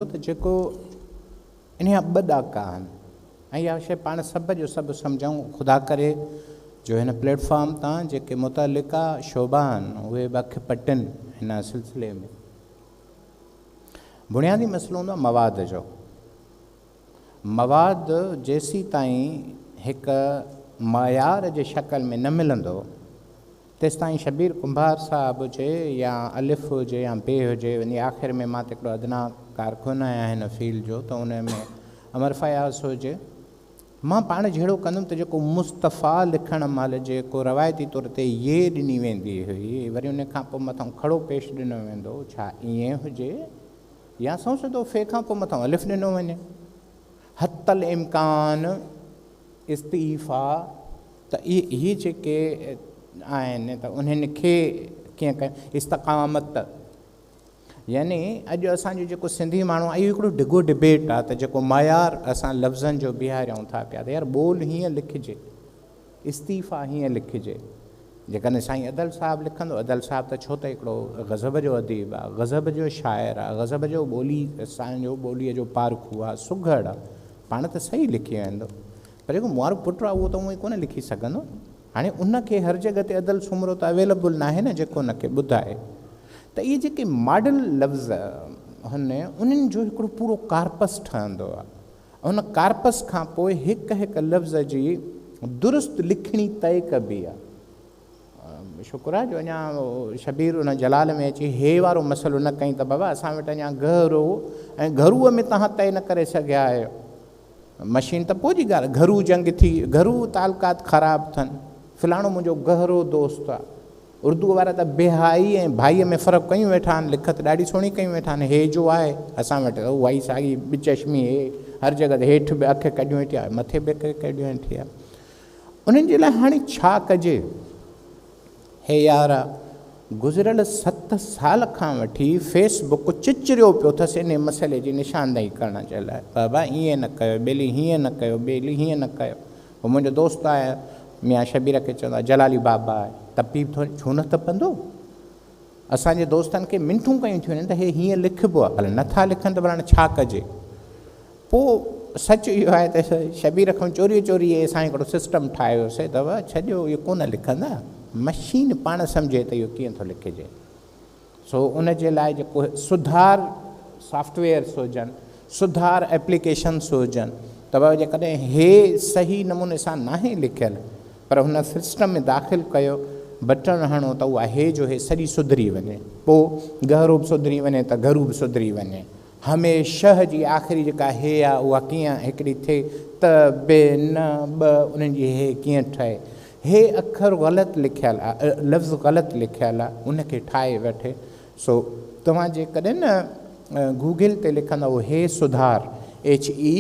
ته جيڪو انهيان ٻه ڏاڪا آهن ۽ اها شيء پاڻ سڀ جو سڀ سمجهون، خدا ڪري جو هن پليٽ فارم تان جيڪي متعلقه شعبا آهن اهي به اک پٽن هن سلسلي ۾. بنيادي مسئلو هوندو آهي مواد جو. مواد جيسيتائين هڪ معيار جي شڪل ۾ نه ملندو تيستائين شبير ڪنڀار صاحب هجي يا الف هجي يا بي هجي وڃي آخر ۾ مان ته هڪڙو ادنيٰ ڪارڪن آهيان هن فيلڊ جو ته ان ۾ امر فياض هجي مان پاڻ جهڙو ڪندم ته جيڪو مصطفيٰ لکڻ مهل جيڪو روايتي طور تي يي ڏني ويندي هئي وري ان کان پوء مٿئون کڙو پيش ڏنو ويندو هو ڇا ائين هجي يا سنئون سڌو في کان پوء مٿئون الف ڏنو وڃي حتي الامڪان استعيفا ته اهي جيڪي آهن ته انهن کي ڪيئن ڪيون استقامت يعني اڄ اسان جو جيڪو سنڌي ماڻهو اهو هڪڙو ڊگهو ڊبيٽ آهي ته جيڪو معيار اسان لفظن جو بيهاريون ٿا پيا ته يار ٻول هيئن لکجي استعيفا هيئن لکجي جيڪڏهن سائين ادل صاحب لکندو ادل صاحب ته ڇو ته هڪڙو غضب جو اديب آهي غضب جو شاعر آهي غضب جو ٻولي اسان جو ٻوليء جو پارکو آهي سگهڙ پاڻ ته صحيح لکي ويندو پر جيڪو مونوارو پٽ آ اهو ته اونئي ڪونه لکي سگهندو هاڻي ان کي هر جڳهه تي ادل سومرو ته اويلبل ناهي نه جيڪو ان کي ٻڌائي ته اهي جيڪي ماڊل لفظ هن انهن جو هڪڙو پورو ڪارپس ٺهندو آ ان ڪارپس کان پوء هڪ هڪ لفظ جي درست لکڻي طئي ڪبي آ. شڪر آ جو اڃا شبير ان جلال ۾ اچي هيء وارو مسئلو نه ڪئين ته بابا اسان وٽ اڃا گهرو ۽ گهرو ۾ توهان طئي نه ڪري سگهيا آهيو. مشين ته پوء جي ڳالهه گهرو جنگ ٿي گهرو تعلقات خراب ٿن فلاڻو منهنجو گهرو دوست آ. اردوء وارا ته بيهائي ۽ ڀائي ۾ فرق ڪيون ويٺا آهن لکت ڏاڍي سهڻي ڪيون ويٺا آهن هيء جو آهي اسان وٽ ته اهائي ساڳي ٻچشمي هيء هر جڳهه تي هيٺ به اک ڪڍيون ويٺي آ مٿي به اک ڪڍيون ويٺي آ. انهن جي لاء هاڻي ڇا ڪجي؟ هي يار! گذريل ست سال کان وٺي فيس بڪ چچريو پيو ٿس انهي مسئلي جي نشاندهي ڪرڻ جي لاء. بابا ائين نه ڪيو، ٻيلي هيئن نه ڪيو، ٻيلي هيئن نه ڪيو. هو منهنجو دوست آهي، ميان شبير کي چوندا جلالي بابا آهي، تپي ٿو ڇو نه تپندو؟ اسان جي دوستن کي منٿون ڪيون ٿيون وڃن ته هي هيئن لکبو آهي، هل نٿا لکن ته ڀلا ڇا ڪجي؟ پوء سچ اهو آهي ته شبير کان چوريء چوريء اسان هڪڙو سسٽم ٺاهي ويو سي ته ڇڏيو اهي ڪونه لکندا، مشين پاڻ سمجهي ته اهو ڪيئن ٿو لکجي. سو ان جي لاء جيڪو سڌار سافٽ ويئرس هجن، سڌار ايپليڪيشنس هجن ته جيڪڏهن هي صحيح نموني سان ناهي لکيل پر هن سسٽم ۾ داخل ڪيو بٽڻ هڻو ته اها هي جو هي سڄي سڌري وڃي پو گهرو به سڌري وڃي ته گهرو به سڌري وڃي هميشه جي آخري جيڪا هي آ اها ڪيئن هڪڙي ٿئي ته به نه ٻه انهن جي هي ڪيئن ٺهي هي اکر غلط لکيل آ لفظ غلط لکيل آ ان کي ٺاهي وٺي سو توهان جيڪڏهن نه گوگل تي لکندؤ هي سڌار ايڇ اي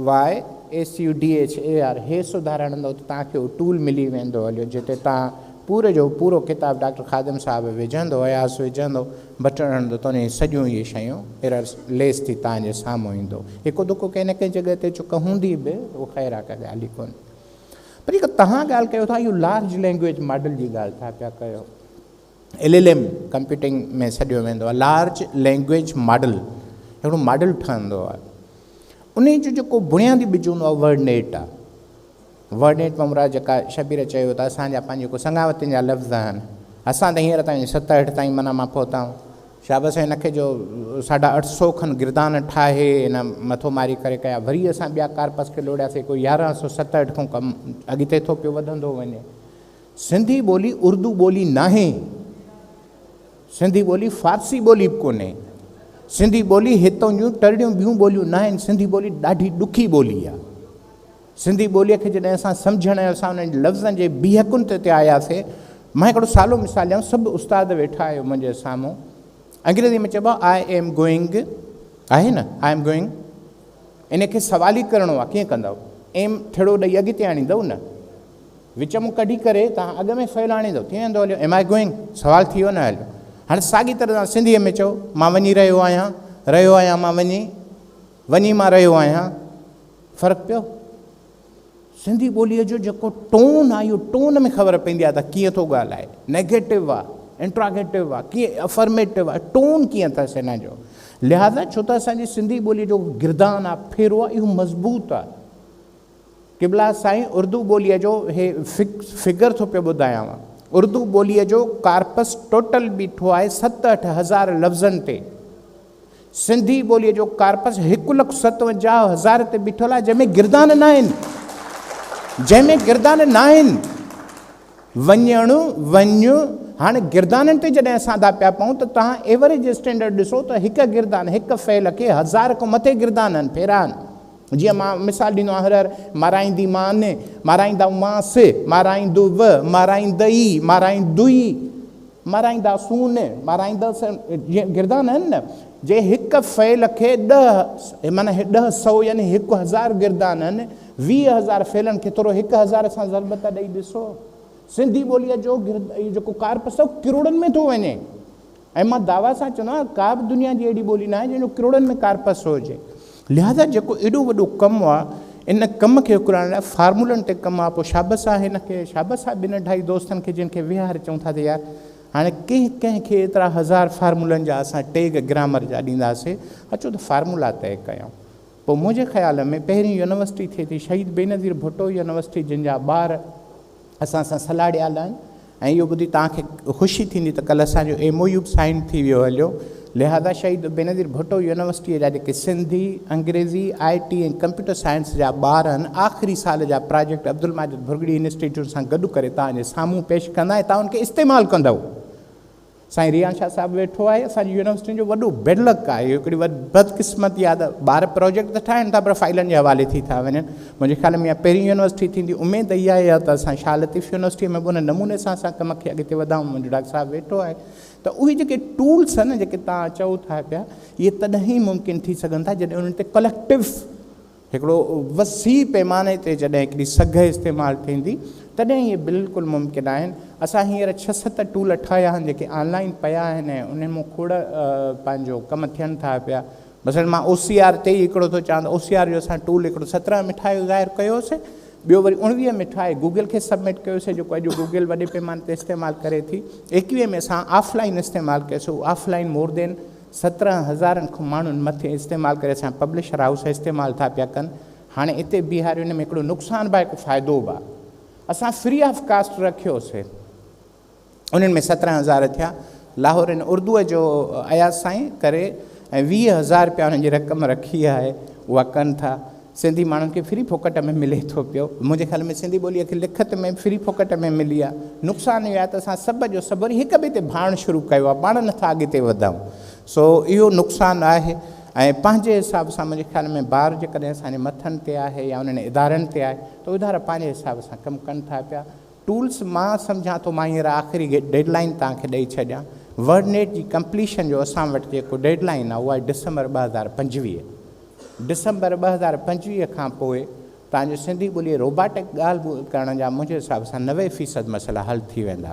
YSUDHAR هي سڌارڻ لاء توهان کي اهو ٽول ملي ويندو هليو جتي توهان پوري جو پورو ڪتاب ڊاڪٽر خادم صاحب وجهندو اياز وجهندو بٽڻ هڻندو ته انهي سڄيون اهي شيون ايرر ليس ٿي توهان جي سامهون ايندو هڪ دڪو ڪنهن نه ڪنهن جڳهه تي چڪ هوندي به اهو خير آ ڪا ڳالهه ئي ڪونهي پر جيڪا توهان ڳالهه ڪيو ٿا اهو لارج لينگويج ماڊل جي ڳالهه ٿا پيا ڪيو ايل ايل ايم ڪمپيوٽنگ ۾ سڏيو ويندو آهي لارج لينگويج ماڊل هڪڙو ماڊل ٺهندو آهي ان جو جيڪو بنيادي ٻج هوندو آهي ورڊ نيٽ آهي ورڊ نيٽ مان مراد جيڪا شبير چيو ته اسان جا پنهنجي جيڪو سنگاوتين جا لفظ آهن اسان ته هينئر تائين ستهٺ تائين منا مان پهتا آهيون شابس ان کي جو ساڍا اٺ سو کن گردان ٺاهي ان مٿو ماري ڪري ڪيا وري اسان ٻيا ڪارپس کي لوڙياسي ڪو يارهن سو ستهٺ کان ڪم اڳتي ٿو پيو وڌندو وڃي سنڌي ٻولي اردو ٻولي ناهي، سنڌي ٻولي فارسي ٻولي به ڪونهي، سنڌي ٻولي هتون جون تڙڙيون ٻيون ٻوليون ناهن، سنڌي ٻولي ڏاڍي ڏکي ٻولي آهي، سنڌي ٻولي کي جڏهن اسان سمجهڻ ۽ اسان انهن لفظن جي بيهڪن تي تي آياسي، مان هڪڙو سالو مثال ڏيانو، سڀ استاد ويٺا آهيو منهنجي سامهون، انگريزي ۾ چئبو آهي آء ايم گوئنگ آهي نه آء ايم گوئنگ ان کي سوالي ڪرڻو آهي ڪيئن ڪندؤ ايم ٿڙو ڏئي اڳتي آڻيندؤ نه وچ مان ڪڍي ڪري توهان اڳ ۾ فعل آڻيندو ڪيئن ويندو هليو؟ Am I going؟ سوال ٿي ويو نه هليو. هاڻي ساڳي طرح سان سنڌيء ۾ چئو مان وڃي رهيو آهيان، رهيو آهيان مان وڃي، وڃي مان رهيو آهيان. فرق پيو؟ سنڌي ٻوليء جو جيڪو ٽون آهي اهو ٽون ۾ خبر پوندي آهي ته ڪيئن ٿو ڳالهائي. نيگيٽو آهي، انٽراگيٽو آهي، ڪيئن افرميٽو آهي، ٽون ڪيئن اٿس هن جو. لهٰذا ڇو ته اسان جي سنڌي ٻوليء جو گردان آهي، ڦيرو آهي اهو مضبوط آهي. قبلا سائين اردو ٻوليء جو هي فگر ٿو پيو ٻڌايانو اردو ٻوليء جو ڪارپس ٽوٽل بيٺو آهي ست اٺ هزار لفظن تي سنڌي ٻوليء جو ڪارپس هڪ لک ستونجاهه هزار تي بيٺل آهي جنهن ۾ گردان ناهن جنهن ۾ گردان ناهن وڃڻ وڃ هاڻي گردانن تي جڏهن اسان دا پيا پون ته تان ايوريج اسٽينڊرڊ ڏسو ته هڪ گردان هڪ فعل کي هزار کان مٿي گردانن ڦيران جيئن مان مثال ڏنو آهي، هرهر مارائينديمان، مارائيندائومانس، مارائيندوء، مارائيندئي، مارائيندوئي، مارائينداسون، مارائيندس جيئن گردان آهن نه، جي هڪ فعل کي ڏهه، معنيٰ ڏهه سئو يعني هڪ هزار گردان آهن، ويهه هزار فعلن کي ٿورو هڪ هزار سان ضرب ته ڏئي ڏسو. سنڌي ٻوليء جو گرد، اهو جيڪو ڪارپس اٿئو، ڪروڙن ۾ ٿو وڃي. ۽ مان دعويٰ سان چوندو آهيان ڪا به دنيا جي اهڙي ٻولي ناهي جنهن جو ڪروڙن ۾ ڪارپس هجي. لهٰذا جيڪو ايڏو وڏو ڪم آهي ان ڪم کي اڪرائڻ لاء فارمولن تي ڪم آهي پوء شابس آهي هن کي شابس آهي ٻن اڍائي دوستن کي جن کي ويهار چئون ٿا ته يار هاڻي ڪنهن ڪنهن کي ايترا هزار فارمولن جا اسان ٽيگ گرامر جا ڏينداسي اچو ته فارمولا طئي ڪيائون. پوء منهنجي خيال ۾ پهرين يونيورسٽي ٿئي ٿي شهيد بينظير ڀٽو يونيورسٽي جن جا ٻار اسان سان صلاح ڏيا لائين ۽ اهو ٻڌي توهان کي خوشي ٿيندي ته ڪلهه اسان جو ايم او يو به سائين ٿي ويو هليو لهذا شهيد بينظير ڀٽو يونيورسٽيء جا جيڪي سنڌي، انگريزي، آء ٽي ۽ ڪمپيوٽر سائنس جا ٻار هن آخري سال جا پراجيڪٽ عبدالماجد ڀرڳڙي انسٽيٽيوٽ سان گڏ ڪري توهان جي سامهون پيش ڪندا ۽ توهان ان کي استعمال ڪندؤ. سائين ريان شاهه صاحب ويٺو آهي اسان جي يونيورسٽين جو وڏو بيڊ لڪ آهي اهو هڪڙي بدقسمتي آهي ته ٻار پروجيڪٽ ته ٺاهن ٿا پر فائلن جي حوالي ٿي ٿا وڃن منهنجي خيال ۾ اها پهرين يونيورسٽي ٿيندي اميد اها آهي ته اسان شاهه لطيف يونيورسٽي ۾ به ان نموني سان اسان ڪم کي اڳتي وڌائون منهنجو ڊاڪٽر صاحب ويٺو آهي ته اهي جيڪي ٽولس آهن جيڪي توهان چئو ٿا پيا اهي تڏهن ئي ممڪن ٿي سگهن ٿا جڏهن انهن تي ڪليڪٽو هڪڙو وسيع پيماني تي جڏهن هڪڙي سگهه استعمال ٿيندي تڏهن اهي بلڪل ممڪن آهن. اسان هينئر ڇهه ست ٽول ٺاهيا آهن جيڪي آن لائين پيا آهن ۽ انهن مون کوڙ پنهنجو ڪم ٿين ٿا پيا. مثلا مان او سي آر تي ئي هڪڙو ٿو چوان ته او سي آر جو اسان ٽول هڪڙو سترهن ۾ ٺاهي ظاهر ڪيو هوسي ٻيو وري اڻويهه ۾ ٺاهي گوگل کي سبمٽ ڪيو هوسي جيڪو اڄ گوگل وڏي پيماني تي استعمال ڪري ٿي. ايڪويهه ۾ اسان آف لائين استعمال ڪيو سي اهو آف لائين مور دين سترهن هزارن کن ماڻهن مٿي استعمال ڪري اسان پبلشر هائوس استعمال ٿا پيا ڪن هاڻي اتي بيهاريو ان ۾ هڪڙو نقصان به آهي هڪ فائدو به آهي اسان فري آف ڪاسٽ رکيوسي انهن ۾ سترهن هزار ٿيا لاهور ان اردو جو اياز سائين ڪري ۽ ويهه هزار رپيا انهن جي رقم رکي آهي اها ڪن ٿا سنڌي ماڻهن کي فري ڦوڪٽ ۾ ملي ٿو پيو. منهنجي خيال ۾ سنڌي ٻوليء کي لکت ۾ فري ڦوڪٽ ۾ ملي آهي. نقصان اهو آهي ته اسان سڀ جو سڀ وري هڪ ٻئي تي ڀاڙڻ شروع ڪيو آهي، پاڻ نٿا اڳتي وڌون. سو اهو نقصان آهي ۽ پنهنجي حساب سان منهنجي خيال ۾ بار جيڪڏهن اسان جي مٿن تي آهي يا انهن ادارن تي آهي ته ادارا پنهنجي حساب سان ڪم ڪن ٿا پيا. ٽولز مان سمجهان ٿو مان هينئر آخري ڊيڊ لائين توهان کي ڏئي ڇڏيان. ورڊ نيٽ جي ڪمپليشن جو اسان وٽ جيڪو ڊيڊ لائين آهي اها آهي ڊسمبر ٻه هزار پنجويهه. ڊسمبر ٻه هزار پنجويهه کان پوء تان جو سنڌي ٻوليء روباٽڪ ڳالهه ٻولهه ڪرڻ جا منهنجي حساب سان نوي فيصد مسئلا حل ٿي ويندا.